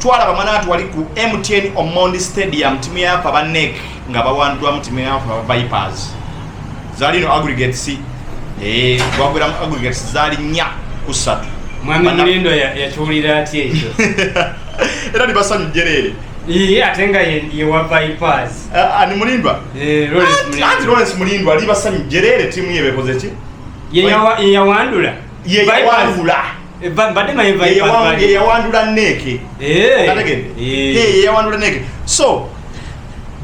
twalaba mwanatu wali ku mtn omondi stadium timu yafa ba nek nga bawandwamu timu yafa vipers zali no aggregates eh, gwagweramu aggregates zali nya kusatu mwami mulindo yakiwulira atya ekyo era nibasanyuj jereere iye ate nga yewa vipers ah, ani mulindwa eh, anti lawrence mulindwa ali basanyuj jereere timu yebekoze ki yeyawandula yeyawandula yeyawandula neeke yeyawandula neeke so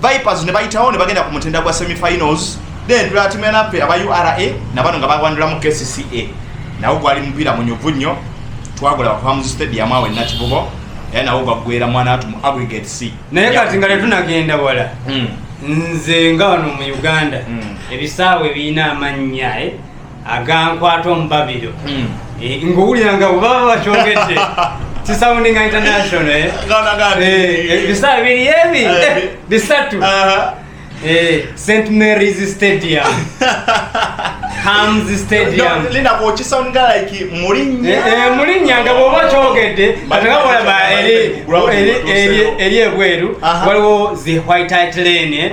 vipers ne bayitawo ne bagenda ku mutenda gwa semifinals then tulatimanafe aba ura nabano nga bawandula mu kcca nawo gwali mupiira munyuvu nnyo twagula bakuhamuzi stadium awo enakibubo era nawo gwaggwera mwana atu mu aggregate c naye kati nga tetunagenda wala hmm. nze nga wano mu uganda hmm. ebisaawe birina amannya eh? agankwata omubabiro hmm. eh, ngowulira nga bwebaba bakyogedde kisounding international eh? eh, ebisaa biri ebi bisatu st marys stadium mulinnya nga bwoba kyogedde atekabolaba eri ebweru waliwo the white itlane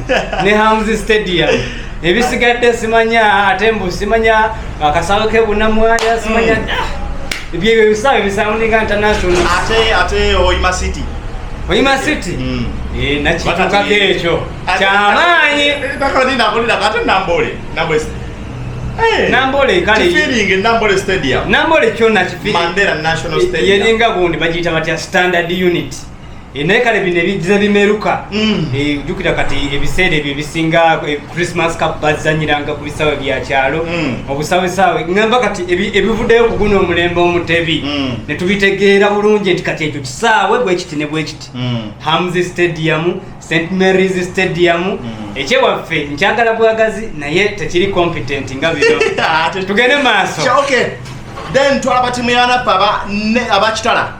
ne hamzi stadium ebisigadde simanya ate mbu simanya akasawo ke bunamwaya simanya hmm. ah, ebyo ebyo ebisawo ebisaundinga international ate ate oyima city oyima city hmm. eh, nakitukako ekyo kyamaanyi nambole kale kyona kifiyeringa gundi bagiyita batya standard unit Eh, naye kale bino ebijja bimeruka mm. eh, jukira kati ebiseera ebyo ebisinga eh, christmas cup bazanyiranga ku bisawe byakyalo mm. obusawesawe ngamba kati ebivuddeyo kuguno omulembe omutebi mm. netubitegeera bulungi nti kati ekyo kisaawe bwekiti ne bwekiti hams stadium st marys stadium ekyewaffe nkyagala bwagazi naye tekiri competent nga bino ah, tugende maaso then twalaba timu yanaffe abakitala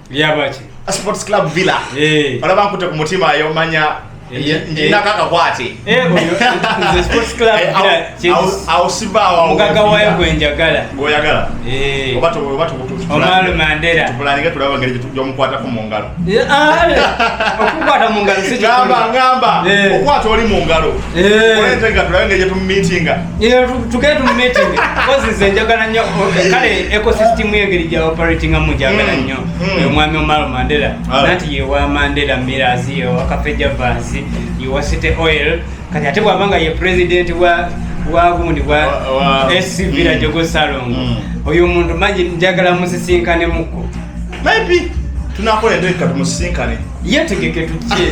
lyabaki sports club villa eh. olaba nkute ku mutima ayomanya nakakakwate awusibawamugaga wayo gwenjagala gwoyagala eh. omalo mandera tupulanike tulaba ngeri gyomukwatako mu ngalo ah, eh. okukwata mu ngalo ngamba ngamba eh. okwata oli mu ngalo olentega tulabe ngeri gyetumitinga njagala nyo kale ecosystem yengeri gya operating amu njagala mm, nyo mm. omwami omaro mandela nanti yewa mandela mirazi yewa kafeja vansi yewa city oil kati ate bwaba nga ye president wa wagundi bwa sc villa mm. jogo salongo mm. oyo omuntu manyi njagala musisinkane muko maybe tunakola endoeka tumusisinkane yetegeke tujje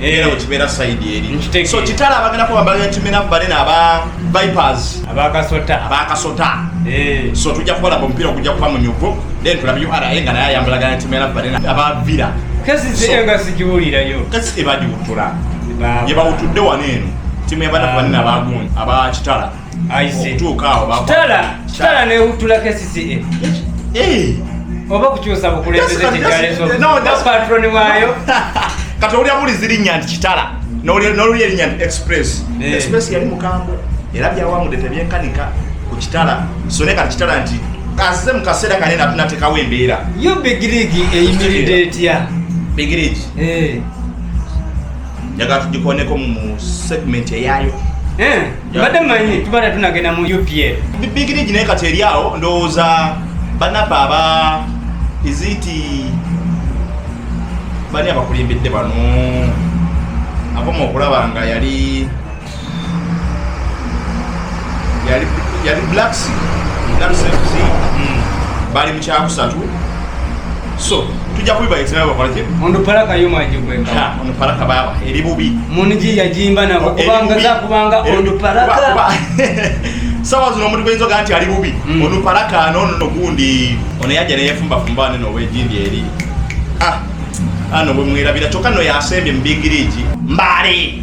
era eh. wekibeera side eri so kitala abagenda kuba bagenda kimera mubale naba vipers abakasota abakasota eh. so tujja kubalaba omupiira ogujja kuba munyuvu then tulabe ura nga naye ayambalagana kimera mubale abavira kesi zee nga sigiwulirayo kesi tebagiwutula yebawutudde wano eno timu yabana ah. banene abagundi abakitala kitala newutula kcca eh. oba kukyusa bukulembeze kikyalezopatroni wayo kati owulira bulizi linnya nti kitala nolulya linnya nti express eh. express yali mukambwe era byawamude tebyenkanika ku kitala so ne kati kitala nti azize mu kaseera kanene atunatekawo embeera yo bigirigi eyimiridde etya bigirigi eh. njagala tugikoneko mu segment eyayo mbadde manyi tubadde tunagenda mu upl bigirigi naye kati eri awo ndowooza banaba aba iziti bani abakulimbidde bano akoma okulaba nga yali yali yali blacks blacks fc hmm. bali mu kyakusatu so tujja kubiba ekirabo bakola ki mundu paraka yo maji kwenda ha mundu paraka baba eri bubi munji yajimba na kubanga za kubanga mundu paraka sawa zino omuntu gwenzo ganti ali bubi mm. mundu paraka no no gundi ono yaje ne yefumba fumba ne no wejindi eri ah ano bwe mwirabira kyokka no yasembye mu bigiriji mbale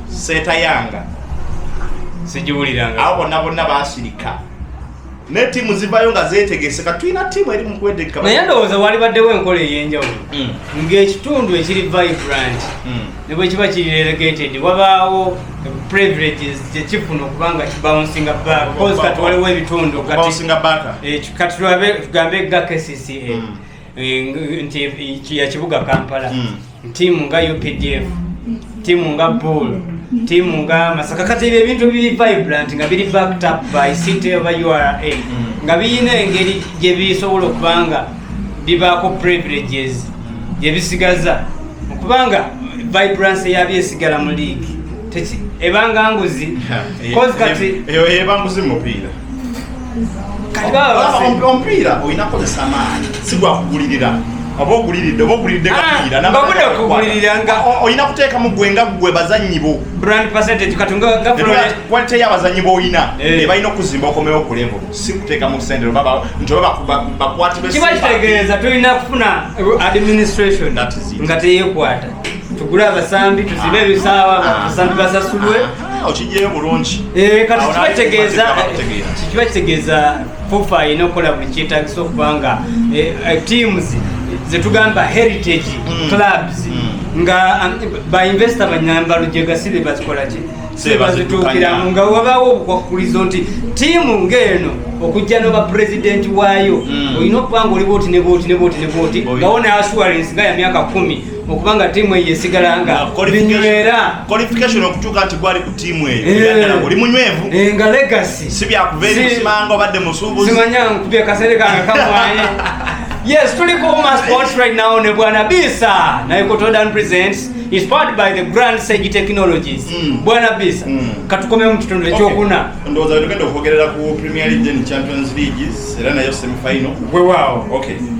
setayanga sigiwuliranga abo bonna bonna basirika ne tiimu zivayo nga zetegese ka tulina tiimu eri mukwedeka naye ndowooza walibaddewo enkola ey'enjawulo hmm. ng'ekitundu ekiri vibrant hmm. ne bwe kiba kiri relegated wabaawo privileges kyekifuna okubanga kibouncinga backbause kati waliwo ebitundu eh, kati tugambe ga kcca hmm. eh, nti yakibuga kampala tiimu nga updf tiimu nga bull tiimu nga masaka kati ebyo ebintu biri vibrant nga biri backed up by city oba ura nga birina engeri gye bisobola okuba nga bibaako privileges gye bisigaza okubanga vibrance yabyo esigala mu league ebanga nguzi kati eyo eba nguzi mupiira omupiira olina kozesa amaanyi si gwakugulirira oba oguliridde oba oguliridde kapiira ah, olina kuteekamu gwe nga gwe bazannyi bo kwalite y'abazannyi b'olina eh. ebalina okuzimba okomewo okulembo si kuteekamu sente nti oba bakwatikiba kitegeeza tulina kufuna administration nga teyekwata tugule abasambi tuzibe ebisaawa ah. abasambi basasulwe ah. Ah, okijjayo bulungi eh, kati kiba kitegeeza fufa alina okukola buli kyetagisa okuba nga eh, eh, teams zetugamba heritage mm. clubs mm. nga um, bainvesita banyamba lujega sibe bazikolaki sibazituukiramu nga wabaawo obukwakkulizo nti tiimu ng'eno okujja noba pulezidenti waayo mm. olina okuba nga oliba oti ne booti ne booti ne booti ngawo ne assurance nga ya myaka kumi okuba nga tiimu eyo esigala nga binywera qualification okutuuka nti gwali ku tiimu eyo eh. oli munywevu eh, nga legacy si byakuva eri musimanga obadde musuubuzi simanya nkubye kasere kange kamwaye yes tuli ku uma sports right now ne bwana bisa naye kotodan presents inspired by the grand sage technologies mm. bwana bisa mm. katukomeo mu kitundu ekyokuna okay. ndowooza wetugenda okwogerera ku premier league and champions leagues era nayo semifinal wewawo okay